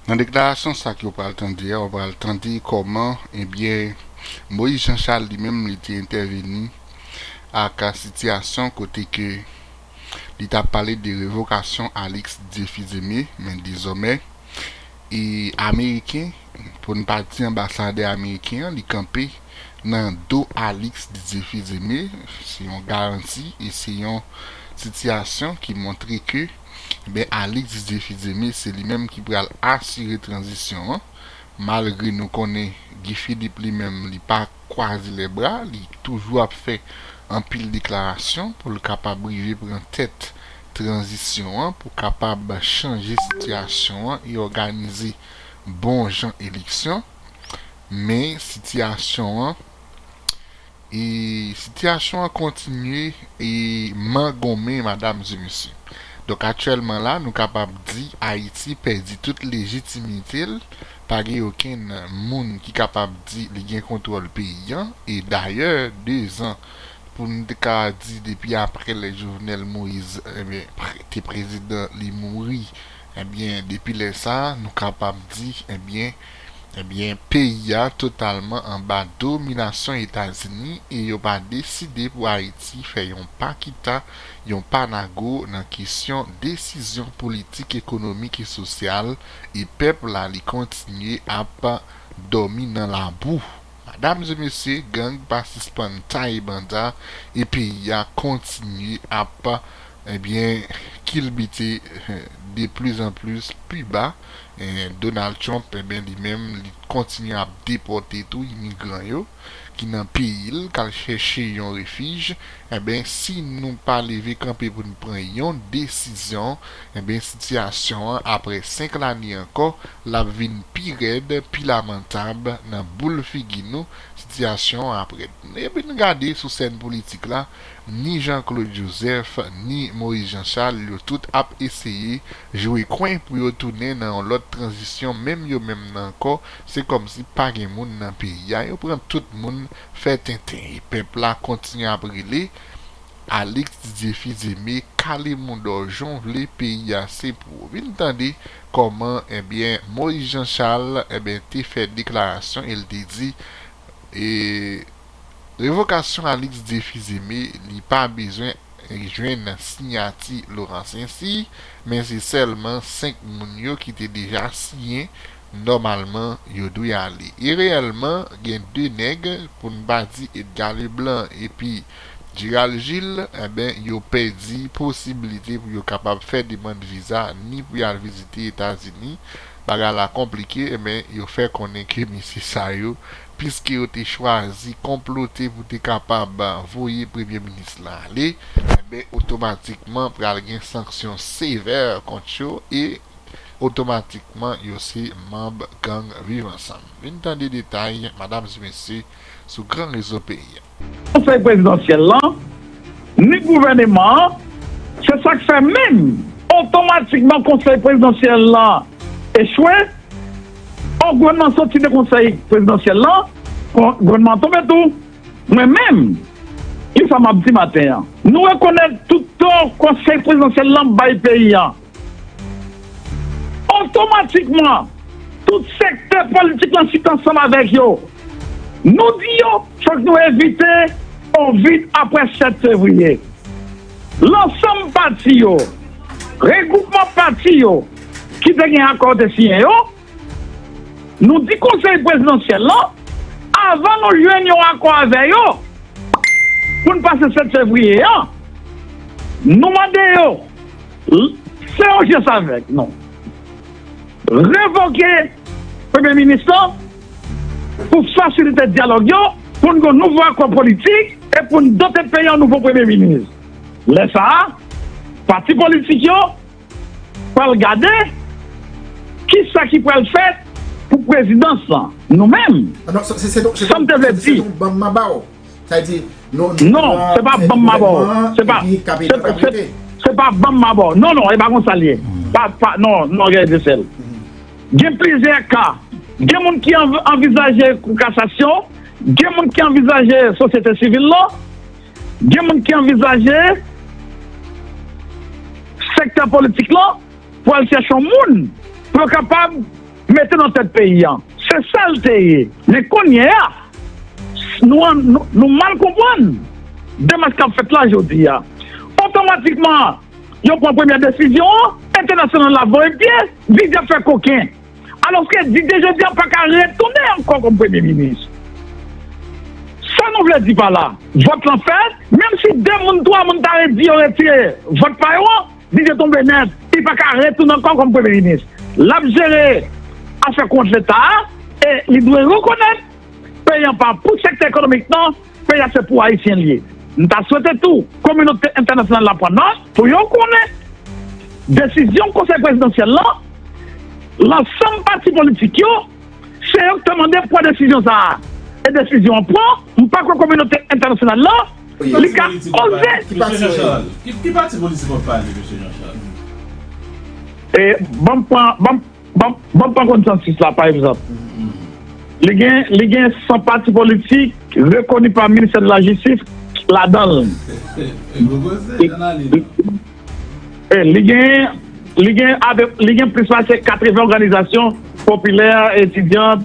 Nan deklarasyon sa ke ou pral tande a ou pral tande kòman ebyen Moïse Jean Charles li menm li te entèveni ak sitiyasyon kote ke li ta pale de revokasyon Alix Dieu Fils Aimé men dezòmè e ameriken pou n pa di anbasadè ameriken an li kanpe nan do Alix Didier Fils Aimé se yon garanti e se yon sitiyasyon ki montre ke ben Alix Didier Fils-Aimé se li menm ki pral asire tranzisyon an malgre nou konnen Guy Philippe li menm li pa kwaze lè bra li toujou ap fè anpil deklarasyon pou l kapab rive pran tèt tranzisyon an pou kapab chanje sitiyasyon an e òganize bon jan eleksyon men sitiyasyon an E sitiyasyon an kontinye e man gonmen madam e mesye. Donk aktyèlman la nou kapab di Ayiti pèdi tout lejitimite l, pa gen okenn moun ki kapab di li gen kontwòl peyi an e dayè 2 zan pou n t ka di depi aprè lè Jovenel Moïse enben te prezidan li mouri enben depi lè sa nou kapab di enben Ebyen peyi a totalman anba dominasyon Etazini e yo pa deside pou Ayiti fè yon pa kita, yon pa nago nan kesyon desizyon politik, ekonomik e sosyal e pèp la li kontinye ap dòmi nan labou. Madam e mesye gang pa sispann taye banda e peyi a kontinye ap ebyen kilbite de plis an plis pi ba. Donald Trump enben li menm li kontinye ap depòte tou imigran yo ki nan peyi l k al chèche yon refij enben si nou pa leve kanpe pou n pran yon desizyon enben sitiyasyon an aprè 5 lane ankò l ap vin pi rèd pi lamantab nan boul figi nou sitiyasyon an ap rèd epi n gade sou sèn politik la ni Jean Claude Joseph ni Moïse Jean Charles yo tout ap eseye Jwe kwen pou yo tounen nan yon lòt tranzisyon menm yo menm nan ankò se kòmsi pa gen moun nan peyi a yo pran tout moun fè tenten e pèp la kontinye ap rele Alix Didier Fils-Aimé kale moudò jan w vle peyi a se pou ou vin tande kòman ebyen Moïse Jean Charles ebyen te fè deklarasyon e l te di e Revokasyon Alix Déphizeme li pa bezwen jwenn siyati Laurent Saincy, men se sèlman 5 moun yo ki te deja siyen nòmalman yo dwe ale. E reyèlman gen 2 nèg, pou n pa di Edgar Leblanc epi Gerald Gilles, enben yo pèdi posibilite pou yo kapab fè demand viza ni pou y al vizite Etazini, bagay la konplike, enben yo fè konnen ke mesye sa yo Piske yo te chwazi konplote pou te kapab voye premye minis lan ale, enben otomatikman pral gen sanksyon sevè kont yo e otomatikman yo se manb gang Viv Ansanm. Vin tande detay, madam e mesye, sou gran rezo peyi a. Konsèy prezidansyèl lan, ni gouvèneman an, se sa k fè menm, otomatikman konsèy prezidansyèl lan echwe, or gouvènman an soti de konsèy prezidansyèl lan, gouvènman an tonbe tou. Mwen menm, ki sa m ap di maten an? Nou rekonèt tout tò konsèy prezidansyèl lan bay peyi an. Otomatikman, tout sektè politik lan sit ansanm avèk yo. Nou di yo fòk nou evite on vid apre 7 fevriye. Lansanm pati yo, regwoupman pati yo ki te gen akò te siyen yo. Nou di Konsèy Prezidansyèl lan, avan nou jwenn yon akò avè yo, pou n pase 7 fevriye a, nou mande yo, fè yon jès avèk nou, revoke Premye Minis lan, pou fasilite dyalòg yo, pou n gen yon nouvo akò politik, e pou n dote peyi an nouvo Premye Minis. Lè sa a, pati politik yo. pral gade ki sa ki pral fèt pou prezidans lan. Nou menm, sa m te vle di. Non, se pa ban m ma ba w. Se pa ban m ma ba w. Non, non, e pa konsa l ye. Non, non, Gary Dressel. Gen plizyè ka. Gen moun ki anvizaje kou kasasyon. Gen moun ki anvizaje sosyete sivil lan. Gen moun ki anvizaje sektè politik lan pou al chèche yon moun pou yo kapab mete nan tèt peyi an. Se sa l te ye. Men kounye a, nou mal konprann demach k ap fèt la jodi a. Otomatikman, yo pran premyè desizyon an, entènasyonal la voye pye, vide fè koken. Alòske Didier jodi a pa ka retounen ankò kòm premye minis. Sa nou vle di pa la, vòt lan fèt, menm si 2 moun, 3 moun ta redi yo retire vòt pa yo an, Didier tonbe nèt, li pa ka retounen ankò kòm premye minis. L ap jere afè kont Leta a e li dwe rekonèt peyi an pa pou sektè ekonomik nan. Peyi a se pou Ayisyen li ye. M ta swete tou kominote entènasyonal la pran nòt pou yo konnen desizyon Konsèy Prezidansyèl lan, lansanm pati politik yo, se yo ki te mande pran desizyon sa a. E desizyon an pran, m pa kwè kominote entènasyonal lan li ka oze. Ki pati politik wap pale mesye Jean Charles? Ban m pran. Banm pran konsansis la pa egzanp, li gen li gen 100 pati politik rekoni pa ministè de la jistis ladan l. Li gen li gen li gen plis pase 80 òganizasyon popilè, etidyan,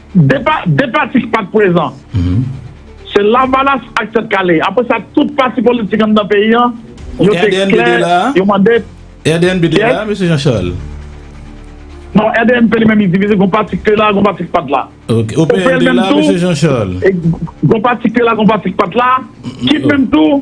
2 pati ki pat prezan se lavalas ak tèt kale apre sa tout pati politik anndan peyi an yo te klè yo mande rdnb 2 la mesye Jean Charles non rdnp li menm li divize gon pati ki te la gon pati ki pat la opl menm tou gon pati ki te la gon pati ki pat la kip menm tou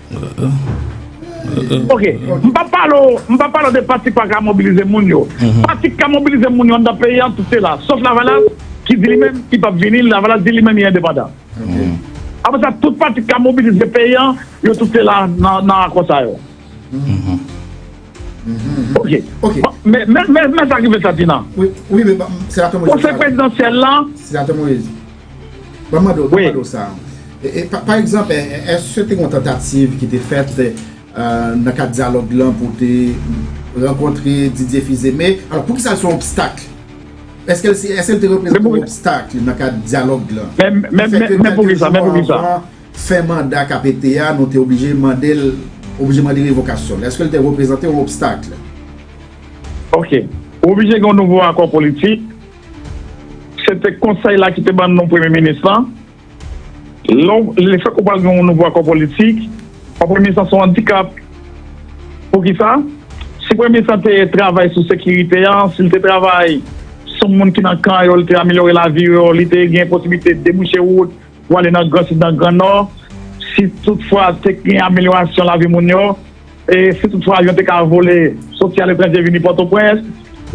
Ok, m pa pale w, m pa pale w de pati pa ka mobilize moun yo. Pati ki ka mobilize moun yo anndan peyi an, tout se la. Sof Lavalas ki di li menm li pap vini, Lavalas di li menm li endepandan. Apre sa, tout pati ki ka mobilize peyi an, yo tout se la nan akò sa yo. Ok, men sa ki fè sa Tina. Konsèy prezidansyèl la. Mwen mande w, mwen mande w sa. Pa egzanp, èske te gen yon tantativ ki te fèt nan kad dyalòg lan pou te rankontre Didier Fils-Aimé? Alò, pou ki sa l se yon obstak? Èske l te reprezante yon obstak nan kad dyalòg lan? Men pou ki sa? Men pou ki sa? Fè manda KPT a, nou te oblije mande l, oblije mande revokasyon l. Èske l te reprezante yon obstak? Ok. Oblije gen yon nouvo akò politik. Se te konsèy la ki te ban non premye minis lan. Lè fèk ou pral gen yon nouvo akò politik, pa premye minis lan se yon andikap. Poukisa? Si premye minis lan te travay sou sekirite an, si li te travay sou moun ki nan kan yo, li te amelyore lavi yo, li te gen posiblite debouche wout pou ale nan gran sid, nan gran nò, si tout fwa te gen amelyorasyon lavi moun yo, E si tout fwa avyon te ka vole soti aletranje vini Pòtoprens,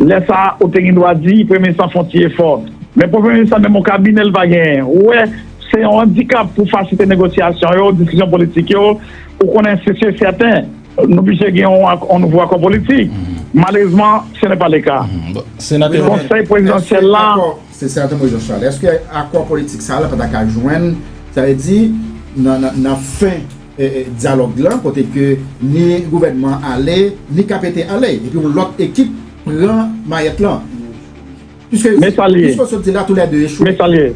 lè sa a ou te gen dwa di Premye Minis lan fon ti efò. Men pou Premye Minis lan menm yon kabinè li pa genyen. Ou wè, se yon andikap pou fasilite negosyasyon yo, diskisyon politik yo. Ou konnen se si e sèten, nou blije gen yon nouvo akò politik. Malerezman, se nè pa le ka. Konsèy Prezidansyèl la. Se sa te mwen Jean Charles. Eske akò politik sa a la pa ta ka jwenn, sa vle di nan fen. Dyalòg lan kote ke ni gouvènman ale, ni KPT ale. Epi yon lòt ekip pran mayèt lan. Piske yo di, piske yo sot di la tou lè 2 echwe. Men sa l ye.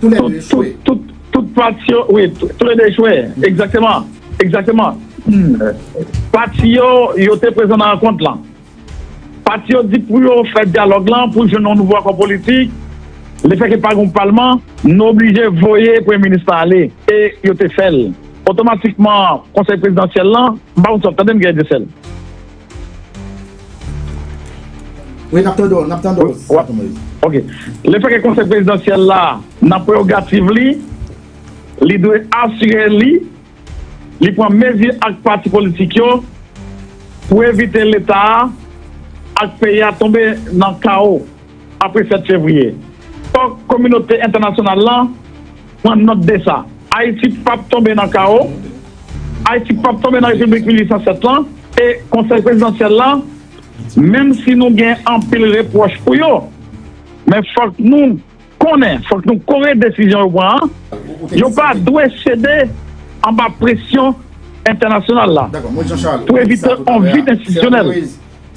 Tou lè 2 echwe. Tout pati yo, wi, tou lè 2 echwe. Egzakteman. Egzakteman. Pati yo, yo te prezan nan rankont lan. Pati yo di pou yo fè dyalòg lan pou jwenn yon nouvo akò politik. Lefètke pa gen yon palman, nou oblije voye Premye minis lan ale. E yo te fè l. Otomatikman, Konsèy prezidansyèl lan, m pa konn si w ap tande m gen etesèl. Wi, n ap tande w, n ap tande w, Sena Tonton Moyiz. Ok. Lefètke Konsèy prezidansyèl la, nan prewogativ li, li dwe asire li. Li pran mezi ak pati politik yo pou evite Leta a ak peyi a tonbe nan kawo apre 7 fevriye. Fòk kominote entènasyonal lan pran nòt de sa. Ayiti p ap tonbe nan kawo, Ayiti p ap tonbe nan Repiblik 1807 lan e Konsèy Prezidansyèl lan, menm si nou gen anpil repwòch pou yo, men fòk nou konnen fòk nou kore desizyon yo pran an, yo pa dwe sede anba presyon entènasyonal la pou evite yon vid enstitisyonèl.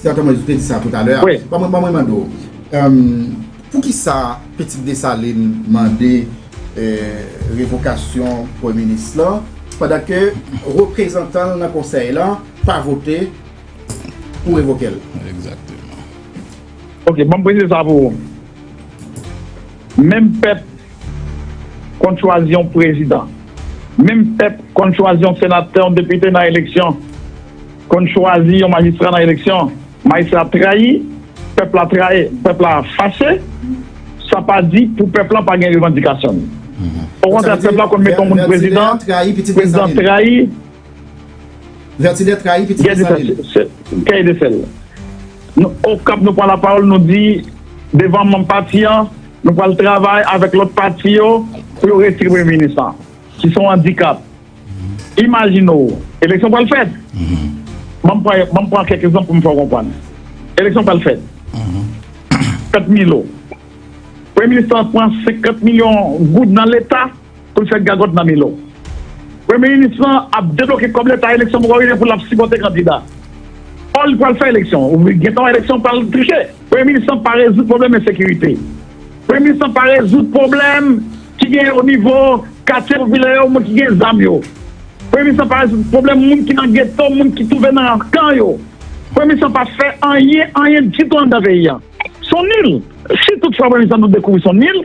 Senatè Moïse ou te di sa toutalè a, ban mwen mande w, poukisa Petit Dessalines mande revokasyon premye minis lan pandan ke reprezantan l nan konsèy lan pa vote pou revoke l? Ok, ban m presize sa pou ou. Menm pèp konn chwazi yon prezidan, menm pèp konn chwazi yon senatè, yon depite nan eleksyon, konn chwazi yon majistra nan eleksyon, majistra trayi, pèp la trayi, pèp la fache, sa pa di pou pèp la pa gen revandikasyon li. Okontrè pèp la konn mete yon moun prezidan, prezidan trayi. Vertinet trayi pitit Desalin. Guy Desel, Okap nou pran lapawòl nou di devan manm pati an nou pral travay avèk lòt pati yo pou yo retire premye minis lan ki se yon andikap. Imajine w eleksyon pral fèt, banm pran kèk egzanp pou m fè w konprann. Eleksyon pral fèt, fèt Milo, premye minis lan pran 50 milyon goud nan leta Pou l fè gagòt nan men lò. Premye minis lan ap debloke kòb leta eleksyon poko rive pou l ap sipòte kandida. Ò li pral fè eleksyon. Wi gentan eleksyon pral triche. Premye minis lan pa rezoud pwoblèm ensekirite. Premye minis lan pa rezoud pwoblèm ki genyen o nivo katye popilè yo moun ki gen zam yo. Premye minis lan pa rezoud pwoblèm moun ki nan geto moun ki twouve nan kan yo. Premye minis lan pa fè anyen anyen ditou anndan peyi an. S on nil. Si toutfwa premye minis lan nou dekouvri s on nil.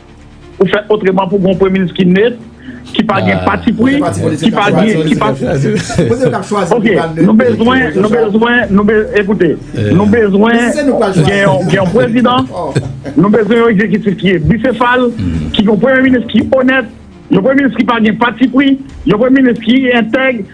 Ou fè otreman pou gon premye minis ki net, ki pa gen patipri, ki pa gen, ki pa Ok, nou bezwen, nou bezwen, nou be, ekoute, nou bezwen gen yon, gen yon prezidan, nou bezwen yon ekzekitif ki e bisefal, ki gen yon premye minis ki onèt, yon premye minis ki pa gen patipri, yon premye minis ki entèg.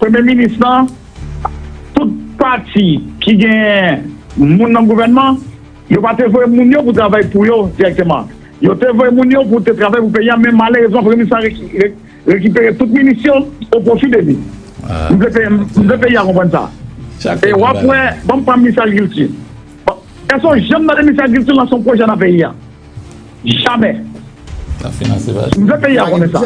Premye minis lan, tout pati ki genyen moun nan gouvènman, yo pa te voye moun yo pou travay pou yo dirèkteman. Yo te voye moun yo pou te travay pou peyi an men malerezman premye minis lan rekipere tout minis yo o pwofi de li. M vle peyi a konprann sa. E w ap wè, banm pran minis agrikilti. Èske w janm tande minis agrikilti lanse yon pwojè nan peyi a? Jamè. Nap finanse pa nou. Mwen vle peyi a konnen sa.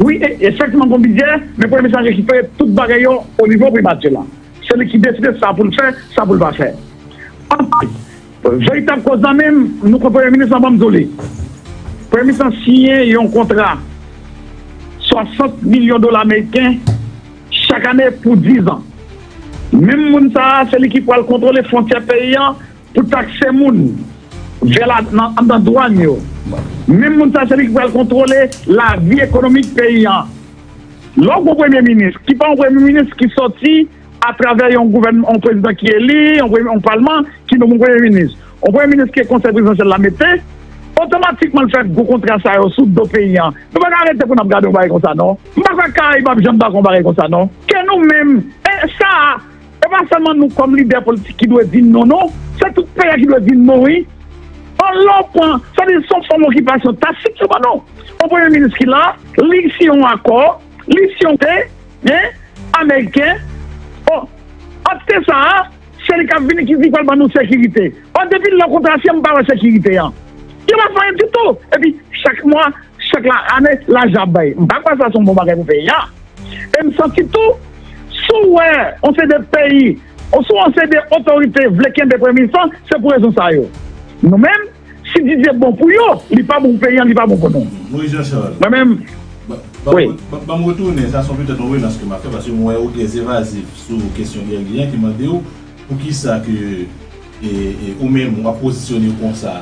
Wi e efektiman gon bidjè, men premye minis la se ki fè tout bagay yo o nivo primati la. Se li ki deside sa pou l fè, sa pou l pa fè. Anplis, veritab koz lan menm, nou konn premye minis lan banm di w li. Premye minis lan siyen yon kontra 60 milyon dola meriken chak ane pou 10 an. Menm moun sa a se li ki pral kontwole fwontyè peyi an. pou takse moun vè la nan anndan dwann yo. Menm moun sa se li ki pral kontwole lavi ekonomik peyi an. Lè w gen yon premye minis ki pa yon premye minis ki sòti atravè yon gouvènman, yon prezidan ki eli, yon palman ki nome yon premye minis, yon premye minis ke konsèy prezidansyèl la mete, otomatikman l fè gwo kontra sa yo sou do peyi an. Nou pa ka rete pou n ap gade yon bagay konsa non. M pa kwè Karayib ap janm dakò yon bagay konsa non. Ke nou menm, e sa a. E pa sèlman nou kòm lidè politik ki dwe di non non, se tout peyi a ki dwe di non wi. An lè w pran, sa di son fòm okipasyon tacit yo ban nou. On premye minis ki la, li siyen on akò, li siyen on te, hein, ameriken. Bon, ant te sa a, se li k ap vini ki di l pral ban nou sekirite. Ò depi lè kontra siyen m pa wè sekirite an. Yo pa fè anyen ditou. Epi chak mwa, chak la ane, lajan ap bay. M pa kwè sa se on bon bagay pou peyi a. E m santi tou, si w wè yon seri de peyi oswa yon seri de otorite vle kenbe Premye Minis lan, se pou rezon sa yo. Nou menm, si Didier bon pou yo, li pa bon pou peyi an, li pa bon pou nou. Moïse Jean Charles, Mwen menm, wi. Ban m retounen, sa son petèt yon relans ke m ap fè, paske m wè ou trè evazif sou kesyon Guerguy an ki mande w, poukisa ke ou menm w ap pozisyone w konsa?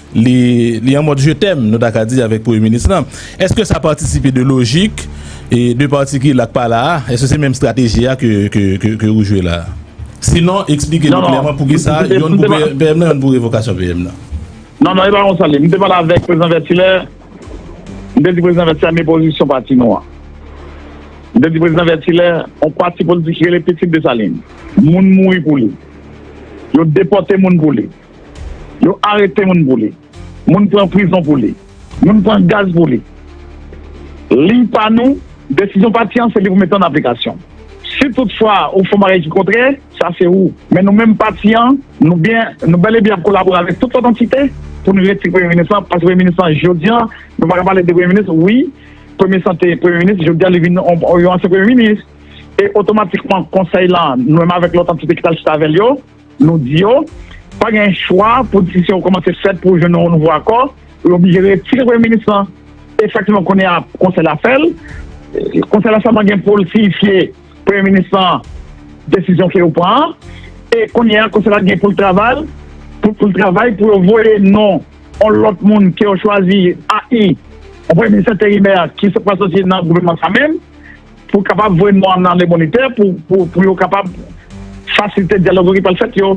Li an mòd je t'aime nou ta ka di avèk premye minis lan. Eske sa patisipe de lojik 2 pati ki la k pa la a? Eske se menm strateji a ke ou jwe la a? Sinon eksplike nou klèman poukisa yonn pou PM nan yonn pou revokasyon PM nan. Non, non, e pa konsa li ye. M te pale avèk Prezidan Vètilè, m te di Prezidan Vètilè men pozisyon pati nou an. M te di Prezidan Vètilè yon pati politik ki rele Pitit Desalin, moun mouri pou li, yo depòte moun pou li. Yo arete moun pou li. Moun pran prizon pou li. Moun pran gaz pou li. Li pa nou, desizyon pati an se li pou mete an aplikasyon. Si tout fwa ou fon bagay ki kontrè, sa se ou. Men nou menm pati an, nou byen, nou bèl e byen ap kolabore avèk tout lòt antite pou nou retire premye minis lan, paske premye minis lan jodi an, nou pa ka pale de premye minis, wi, premye sa te premye minis, jodi a li vin yon ansyen premye minis e otomatikman konsèy lan, nou menm avèk lòt antite ki t al chita avè l yo, Nou di yo, pa gen chwa pou di se yon kòmanse fèt pou jwenn yon nouvo akò, yo oblije retire premye minis lan. E sa ki bon kounye a, konsèy la fè l. Konsèy la sèlman gen pou l siyifye premye minis lan desizyon ke yo pran an. E kounye a, konsèy la gen pou l travay, pou l travay pou yo voye non yon lòt moun ke yo chwazi, AI, yon premye minis enterimè ki pral soti nan gouvènman sa menm. Pou kapab voye non an nan Lebonite pou yo kapab fasilite dyalog ki pral fèt yo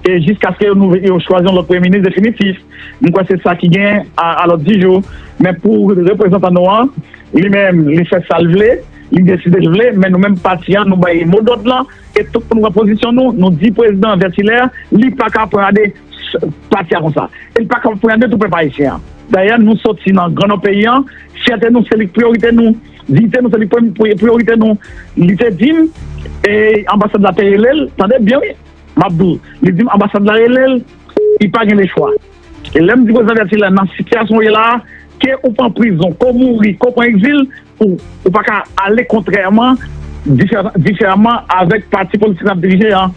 e jiskaske yo chwazi yon lòt premye minis definitif. M kwè se sa ki gen a lòd di jou. Men pou reprezantan nou an, li menm li fè sa l vle, li deside l vle, men nou menm pati an nou bay mo dòd lan e tout moun pran pozisyon nou, nou di prezidan Vètilè li pa ka apranade pati a konsa. E li pa ka apranade tou pèp ayisyen an. Dayè nou soti nan gran nò peyi an, fyète nou se li k priyorite nou. Diyite nou se li premye priyorite nou li te dim e anbasad la te relel tande byen wi map di w li dim anbasad la relel li pa gen le chwa e lèm di prezidan Laverty la nan sitiyasyon ou ye la a ke ou pran prizon ke w mouri ke w pran egzil ou pa ka ale kontrèman diferaman avèk pati politik nap dirije an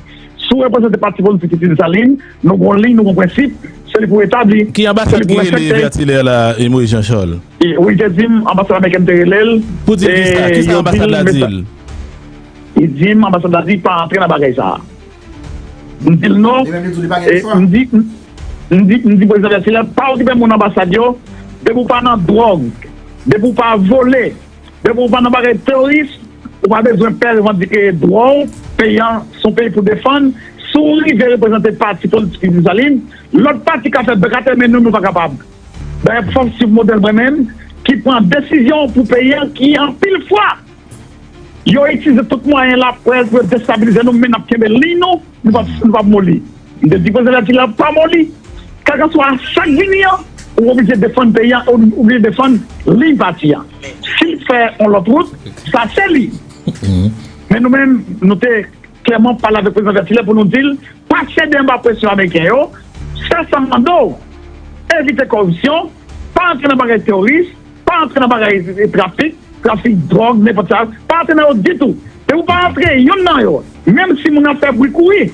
Sou reprezante pati politik ki di Desalines, nou gon liy, nou gon prensip, se li pou etabli, Ki anbasad ki rele Vertilaire la e Moïse Jean Charles? Wi te dim anbasad amerikèn te relel Pou dil kisa? Kisa anbasad la dil? Li dim anbasad la di pa antre nan bagay sa M dil non Li menm li di w li pa gen chwa? M di M di M di prezidan Vertilaire pa okipe moun anbasad yo depi w pa nan dwòg depi w pa vole Depi ou pa nan bagay teoris, ou pa bezwen pè revandike dwa w, peyi an se yon peyi pou defann, si w rive reprezante pati politik Usine Saline, lòt pati ka fè bèk atè men nou, nou pa kapab. Dayè pou fòm siv modèl mwen menm ki pran desizyon pou peyi an ki anpil fwa yo itilize tout mwayen laprès pou yo destabilize nou men n ap kenbe liy nou, nou p ap moli. M te di koze lati la ap pa moli. Kèlkanswa sa k vini an, ou oblije defann peyi a, ou oblije defann liy pati a. Si l fè yon lòt wout, sa se li. Men nou menm, nou te klèman pale avèk Prezidan Vètilè pou nou di l, pa sede anba presyon ameriken yo, fè sa m mande w, evite koripsyon, pa antre nan bagay teworis, Pa antre nan bagay trafik, trafik dròg, nenpòt sa, pa antre nan yo ditou. Depi w pa antre yonn nan yo, menm si moun ap fè bri kouri,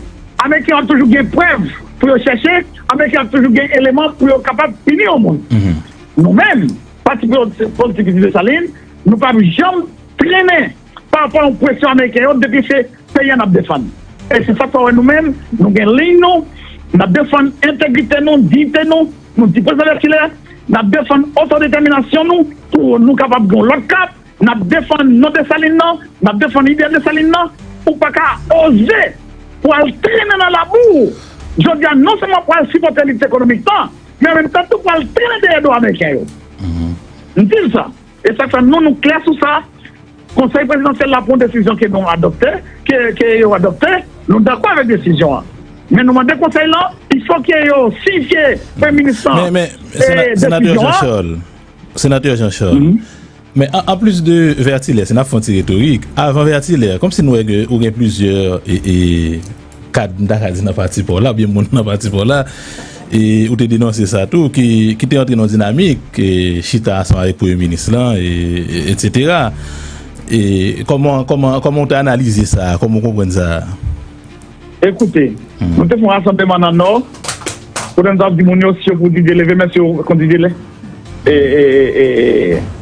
ameriken yo ap toujou gen prèv pou yo chèche, ameriken yo ap toujou gen eleman pou yo kapab pini yon moun. Nou menm, Pati Politik Dessalines, nou p ap janm trennen. Pa anpwen ou presyon ameriken yo depi se peyi a nap defann. E se sak fè ou wè nou menm nou gen liy nou, nap defann entegrite nou, diyite nou, nou di prezidan Lèkilè, nap defann otodetèminasyon nou pou nou kapab gen yon lòt kap, nap defann non Desalin nan, nap defann ide Desalin nan, ou pa ka oze pou al trennen nan labou jodi a non sèlman pou al sipòte lit ekonomik nan men anmenm tan tou pou al trennen dèyè do ameriken yo. M di l sa. E sak fè nou nou klè sou sa, Konsèy Prezidansyèl la pran desizyon ke nou adopte, ke yo adopte, nou dakò avèk desizyon an. Men nou mande Konsèy lan, il fò ke yo siyifye Premye Minis lan desizyon an. Senatè Jean Charles, men an plis de Vertilaire, si n ap fè yon ti retorik, avan Vertilaire, kòmsi nou wè ke ou gen plizyè e. Kad, m ta ka di nan pati pa w la, oubyen moun nan pati pa w la, e ou te denonse sa tou, ki te antre nan yon dinamik, chita ansanm avèk premye minis lan, etsetera. E kòman, kòman, kòman ou te analize sa a, kòman ou konprann sa a? Ekoute, nou te fè yon rasanbleman nan Nò, kote nou t ap di moun yo, si yo pou Didier leve men, si yo kont Didier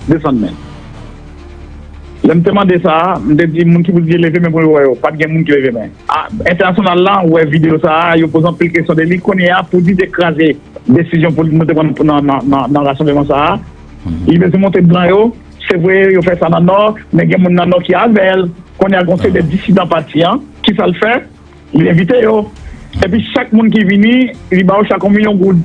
desann men. Lè m te mande sa a, m te di moun ki pou di leve men pou yo wè yo, pa t gen moun ki leve men. A Entènasyonal la wè videyo sa a, yo poze anpil kesyon de li. Kounye a, pou di te kraze desizyon pou nou te pran nan rasanbleman sa a, li bezwen montre blan yo, se vre yo fè sa nan Nò, men gen moun nan Nò ki avè l. Kounye a gen yon seri de disidan pati an, ki sa l fè? Li envite yo. Epi chak moun ki vini, li ba yo chak yon milyon goud.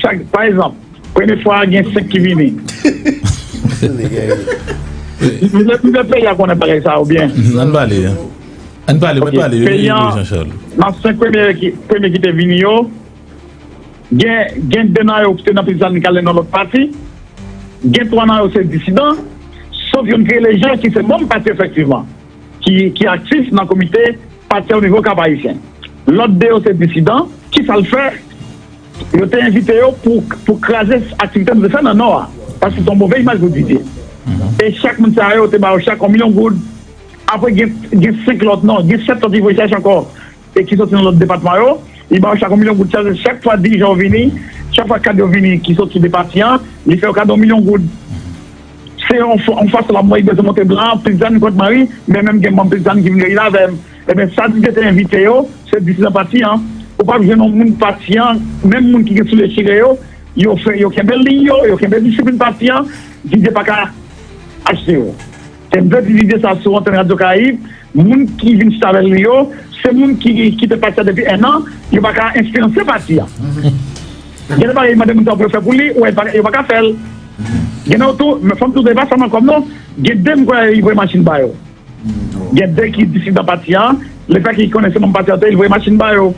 Chak, pa egzanp, premye fwa a gen 5 ki vini. Plizyè peyi a konnen bagay sa a oubyen? Ann pale. Ann pale, mwen pale. Yo gen idyo Jean Charles. Nan 5 premye ki te vini yo, gen 2 nan yo ki te nan Pil Salin Kale nan lòt pati, gen 3 nan yo se disidan, sof youn ki rele Jean ki se manm pati efektivman. ki aktif nan komite pati a onivo Kap Ayisyen. Lòt 2 yo se disidan, kisa l fè yo te envite yo pou kraze aktivite nou te fè nan Nò a, paske se yon move imaj pou Didye. E chak moun sa yo te ba yo chak yon milyon goud, apre gen 5 lòt non, gen 7 lòt ki voye chèche ankò. e ki soti nan lòt depatman yo, li ba yo chak yon milyon goud. Sa vle di chak fwa dirijan yo vini, chak fwa kad yo vini ki soti de pati an, li fè yo kado yon milyon goud. Se yon fason l ap montre Gason Monteblan an plis zanmi kont mwen wi, men menm gen manm plis zanmi ki vin reyini avè m. Enben, sa Didier te envite yo, se disidan pati an. Ou pap jwenn yon moun pati an, menm moun ki gen soulye chire yo, yo fè yo kenbe liy yo, yo kenbe disiplin pati an, Didier pa ka achte yo. Te bèl ti video sa sou antèn Radio Caraïbe, moun ki vin chita avèl yo se moun ki kite pati a depi 1 an, yo paka enfliyanse pati a. Gen de bagay li mande moun sa pou yo fè pou li, ou wè yo paka fèl. Gen nan yo tou, men fòm tou di e pa sèlman kòb non, gen de m kwè li voye machin ba yo. Gen de ki disidan pati a. Leta ki konnen se manm pati a te voye machin ba yo.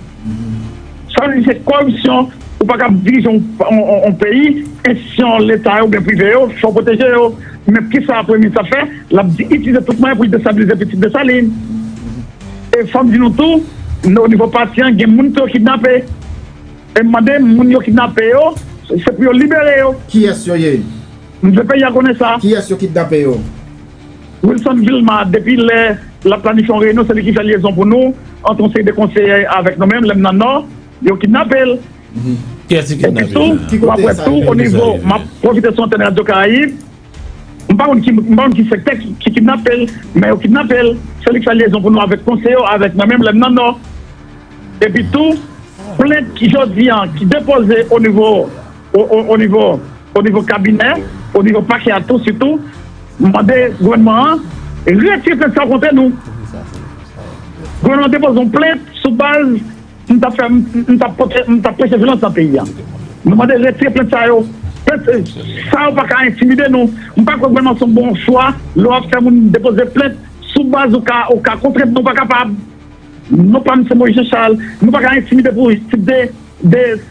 Sa vle di se kòripsyon, ou pa kab dirije yon peyi, enstitisyon leta yo oubyen prive yo fè w pwoteje yo. Men kisa premye minis ap fè, l ap itilize tout mwayen pou l destabilize pitit Desalin. E fò m di nou tou, o nivo pati an gen moun tou yo kidnape. E m mande moun yo kidnape yo, se pou yo libere yo. Kiyès yo ye? M vle peyi a konnen sa. Kiyès yo kidnape yo? Wilson Vilma depi lè lap planifye yon reyinyon se li ki fè lyezon pou nou ant yon seri de konseyè avèk nou menm lèm nan nò yo kidnapel epi tou wap wè tou onivo map pwofite sou antèn radyo karayib m pa konn ki sektè ki kidnapel men yo kidnapel se li ki fè lyezon pou nou avèk konseye yo avèk mwen menm lèm nan nò epi tou plent ki jodi an ki depoze onivo o nivo kabinè, o nivo pakè a tou sitou, m mande gouvènman an retire plent sa kontre nou. Gouvènman an depoze yon plent sou baz m t ap preche vyolans nan peyi a. Nou mande retire plent sa yo. Plent sa yo pa ka entimide nou. M pa kwè gouvènman se yon bon chwa lè w ap fè moun depoze plent sou baz ou ka kontre m. Nou pa kapab. Non pa m se Moyiz Jechal. Nou pa ka entimide pou tip de.